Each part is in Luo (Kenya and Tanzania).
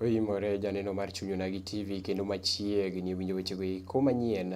Oimore janeno mar Chuny Onagi TV kendo machiegni winjo wechego eko manyien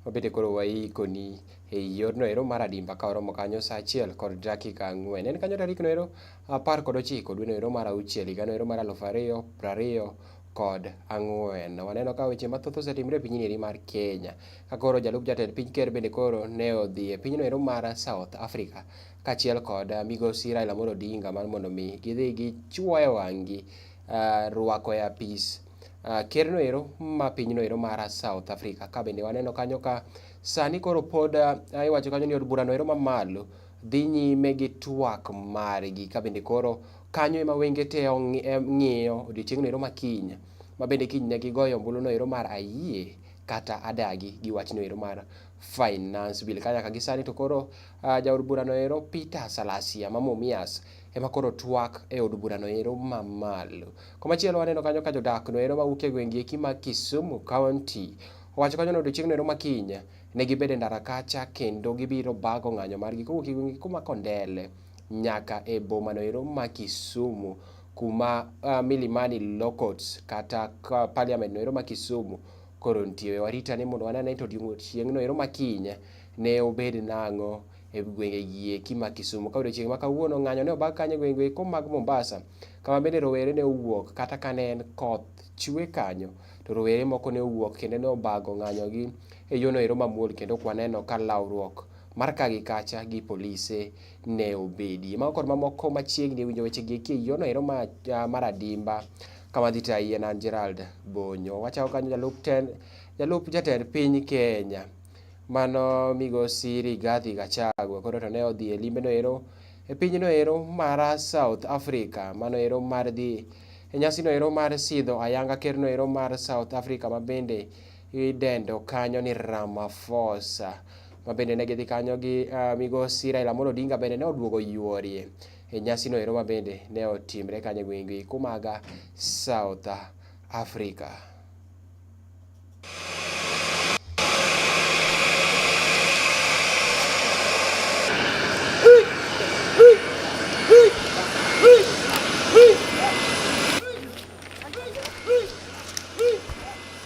mabende koro waikoni e yorno ero mar adimba ka oromo kanyo sa achiel kod dakika ang'wen. En kanyo tarikno ero apar kod ochiko dweno ero mar auchiel higano ero mar aluf ariyo prariyo kod ang'wen. Waneno ka weche mathoth osetimre e pinyni eri mar Kenya. Ka koro jalup jatend piny ker bende koro ne odhi e pinyno ero mar South Africa kachiel kod uh, migosi Raila Amolo Odinga mar mondo mi gidhi gichuoyo wang'gi uh, rwako e apis uh, ker no ero ma pinyno ero mar South Africa. Ka bende waneno kanyo ka sani koro pod uh, iwacho kanyo ni od burano ero mamalo dhi nyime gi twak margi ka bende koro kanyo ema wenge te ng'iyo odiochieng'no ero makiny ma bende kiny ne gigoyo ombuluno ero mar ayie kata adagi gi wachno ero mar finance bill ka nyaka gisani to koro uh, jaod burano ero Peter Salasia ma Mumias ema koro twak e od burano ero mamalo. Komachielo waneno kanyo ka jodakno ero mawuok e gwenge eki ma Kisumu County owacho kanyo ni odiochieng'no ero makiny ne gibedo e ndara kacha kendo gibiro bago ng'anyo margi kowuok e gwenge eki ma Kondele nyaka e bomano ero ma Kisumu kuma uh, Milimani Locots kata parliament no ero ma Kisumu koro nitie warita ni mondo wanane to odiechieng' no ero ma kiny ne obed nang'o e gwenge gieki ma Kisumu ka odiechieng' ma kawuono ng'anyo ne obag kanyo e gwenge eko mag Mombasa kama bende rowere ne owuok kata ka ne en koth chwe kanyo to rowere moko ne owuok kendo ne obago ng'anyogi e yono ero mamuol kendo kwaneno ka lawruok mar ka gi kacha gi polise ne obedi. Mago kod mamoko machiegni winjo weche gi eki yono ero ma, uh, mar adimba kama dhi tayi en an Gerald Bonyo. Wachako kanyo jalup ten, jalup jatend piny Kenya mano migosi Rigathi Gachagua koro to ne odhi e limbe no ero e piny no ero mar South Africa mano ero mar dhi e nyasi no ero mar sidho ayanga ker no ero mar South Africa ma bende idendo kanyo ni Ramaphosa. ma bende ne gidhi kanyo gi uh, migosi Raila Amolo Odinga bende ne oduogo yuorie e nyasino ero ma bende ne otimre kanyo e gwenge kumaga South Africa.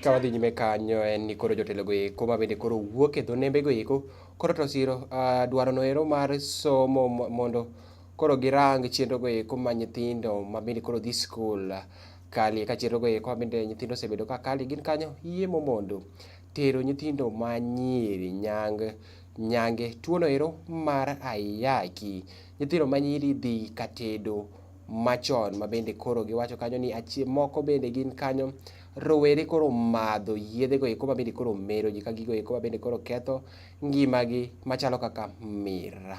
ka wadhi nyime kanyo en ni koro jotelogo eko ma bende koro wuok e dho nembego eko koro to siro ah, dwarono ero mar somo mondo koro girang chenrogo eko ma nyithindo ma bende koro dhi skul ah, kali ka chenrogo eko ma bende nyithindo osebedo ka kali gin kanyo yie momondo tero nyithindo ma nyiri nyang nyange. Tuono ero mar ayaki, nyithindo ma nyiri dhi ka tedo machon ma bende koro giwacho kanyo ni achie moko bende gin kanyo rowere koro madho yiedhe go eko ma bende koro mero ji ka gigo eko ma bende koro ketho ngimagi machalo kaka mira.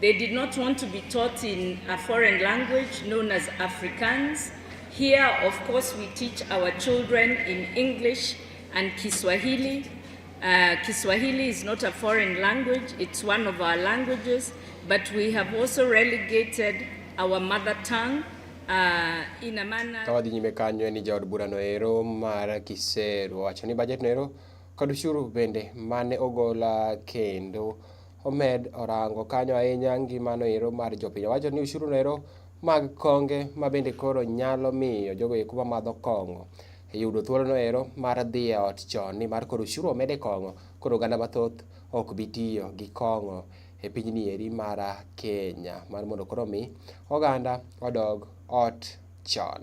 They did not want to be taught in a foreign language known as Afrikaans. Here, of course, we teach our children in English and Kiswahili. Uh, Kiswahili is not a foreign language, it's one of our languages, but we have also relegated our mother tongue Uh, ina maana kawadhi nyime kanyo ni jaod bura no ero mar Kiseru wacho ni budget no ero kod ushuru bende mane ogola kendo omed orango kanyo ahinya ngimano ero mar jopiny owacho ni ushuru no ero mag konge ma bende koro nyalo miyo jogo eko mamadho kong'o yudo thuolono ero mar dhi e ot chon ni mar koro ushuru omed e kong'o koro oganda mathoth ok bi tiyo gi kong'o e pinyni eri mar Kenya mar mondo koro omi oganda odog ot chon.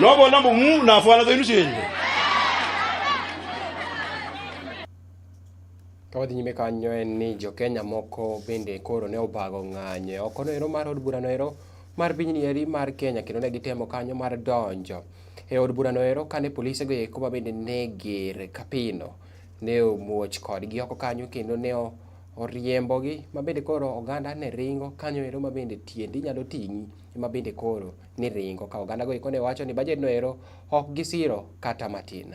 nobona mbu mu nafwana zenu shenyu kawadhi nyime kanyo en ni jokenya moko bende koro ne obago ng'anyo e oko noero mar od bura noero mar pinyni eri mar kenya kendo ne gitemo kanyo mar donjo e od bura noero kane polise go eko ma bende ne ger kapino ne omuoch kodgi oko kanyo kendo ne o- oriembogi ma bende koro oganda ne ringo kanyo ero ma bende tiendi nyalo ting'i ema bende koro ni ringo ka oganda goiko ne wacho ni bajet no ero ok gisiro kata matin.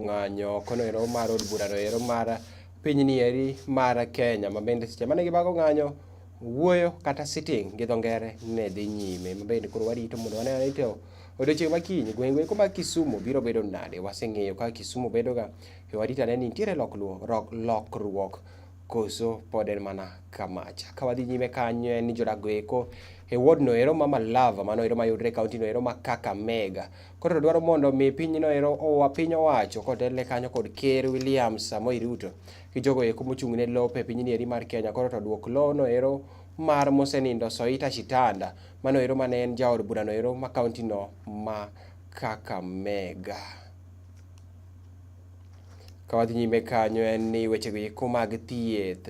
ng'anyo kono ero mar od burano ero mar pinyni eri mar Kenya ma bende seche mane gibago ng'anyo wuoyo kata sitting gi dho ngere ne dhi nyime ma bende koro warito mondo wane ane to odiochieng' ma kiny gweng'go eko mar Kisumu biro bedo nade waseng'eyo kaka Kisumu bedoga to warito ane ni nitiere lokruok koso pod en mana kamacha ka wadhi nyime kanyo en ni jodak go eko e ward no ero ma Malava mano ero mayudre e kaunti no ero ma Kakamega Koro dwaro mondo mi pinyno ero owa piny owacho kotelne kanyo kod Ker William Samoei Ruto gi jogo eko mochung' ne lope e pinyni eri mar Kenya koro to duok lono ero mar mosenindo Soita Shitanda mano ero mane en jaod burano ero ma kaunti no ma Kakamega. Ka wadhi nyime kanyo en ni wechego eko mag thieth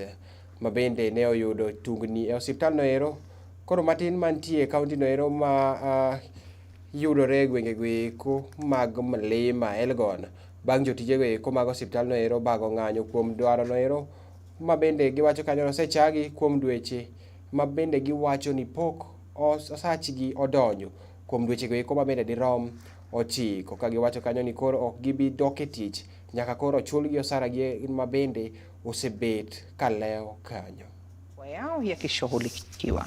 ma bende ne oyudo tungni e osiptal no ero koro matin mantie e kaunti no ero ma uh, yudore e gwengego eko mag mlima Elgon. Bang' jotijego eko mag osiptandno ero bago ng'anyo kuom dwarono ero ma bende giwacho kanyo osechagi kuom dweche ma bende giwacho ni pok osachgi odonjo kuom dwechego eko ma bende dirom ochiko ka giwacho kanyo ni koro ok gibi dok e tich nyaka koro ochulgi osaragi ma bende osebet ka lewo kanyo. wao yakishughulikiwa.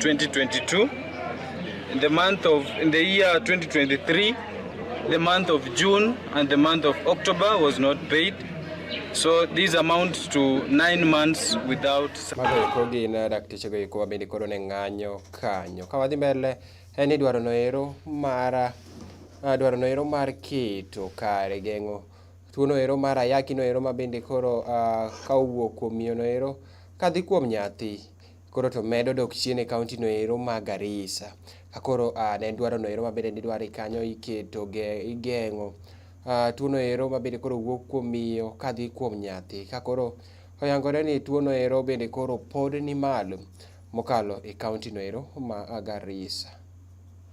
2022 in the month of in the year 2023 the month of June and the month of October was not paid So these amount to nine months without Mago gin eh, dakteche go iko mabende koro ne ng'anyo kanyo. Ka wadhi mbele en ni dwaro noero mar eh, dwaro noero mar keto kare geng'o tuo noero mar ayaki noero mabende koro uh, ka owuok kuom miyo noero kadhi kuom nyathi koro to medo dok chien e kaunti no ero ma Garissa. Ka koro uh, ne dwaro no ero mabende nidwaro kanyo iketo ge, igeng'o uh, tuo no ero mabende koro wuok kuom miyo kadhi kuom nyathi. Ka koro oyangore ni tuo no ero bende koro pod ni malo mokalo e kaunti no ero ma Garissa.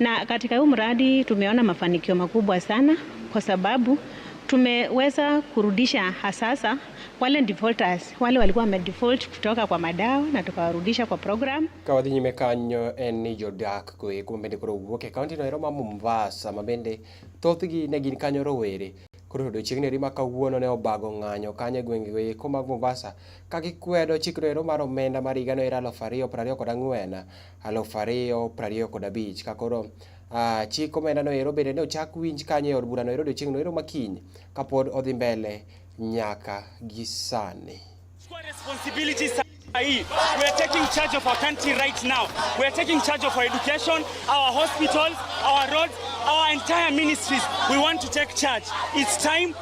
Na katika huu mradi tumeona mafanikio makubwa sana kwa sababu tumeweza kurudisha hasasa wale defaulters wale walikuwa wamedefault kutoka kwa madawa na tukawarudisha kwa program. Kawadhi nyime kanyo en ni jodak koeko mabende koro wuok e kaunti noero ma Mombasa mabende thothgi ne gin kanyo rowere koro odiochieng' neri ma kawuono ne obago ng'anyo kanyo e gwenge goeko mag Mombasa ka gikwedo chikno ero mar omenda mar higa no ero aluf ariyo prariyo kod ang'wen aluf ariyo prariyo kod abich ka koro uh, chik omenda no ero bende ne ochak winj kanyo e od bura no ero odiochieng' no ero makiny kapod odhi mbele nyaka gi sani hii. We are taking charge of our country right now. We are taking charge of our education, our hospitals, our roads, our entire ministries. We want to take charge. It's time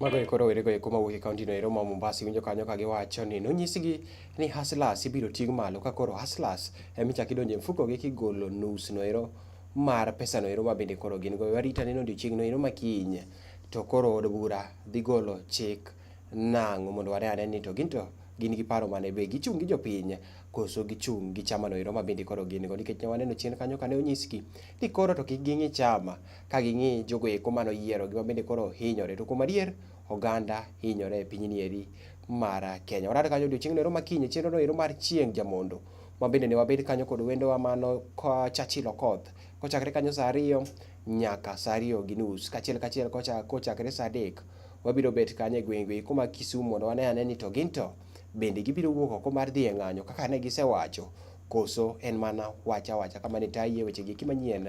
Mago eko rowere go eko mawuok e kaunti no ero ma Mombasa iwinjo kanyo ka giwacho ni nonyisgi ni hustlers ibiro ting' malo ka koro hustlers ema ichak idonje mfuko gi kigolo nus no ero mar pesa no ero ma bende koro gin go warita ni odiochieng' no ero ma kiny to koro od bura dhi golo chik nang'o mondo wane ane ni to ginto gin gi paro mane be gichung' gi jopiny koso gichung' gi chama no ero ma bende koro gin go nikech ne waneno chien kanyo kane onyisgi ni koro to kik ging'i chama ka ging'i jogo eko mane oyiero gima bende koro hinyore. To kuom adier, oganda hinyore e pinyni eri mar Kenya. Warado kanyo odiochieng'no ero makinyi, chenrono ero mar chieng' jamondo. Ma bende ne wabed kanyo kod wendowa mano ka Churchill Okoth. Kochakre kanyo sa ariyo nyaka sa ariyo gi nus. Kachiel kachiel kocha- kochakre sa adek, wabiro bet kanyo e gwenge eko mag Kisumu mondo wane ane ni to ginto bende gibiro wuok oko mar dhi e ng'anyo kaka ne gisewacho koso en mana wach awacha kamane taye wechegi eki manyien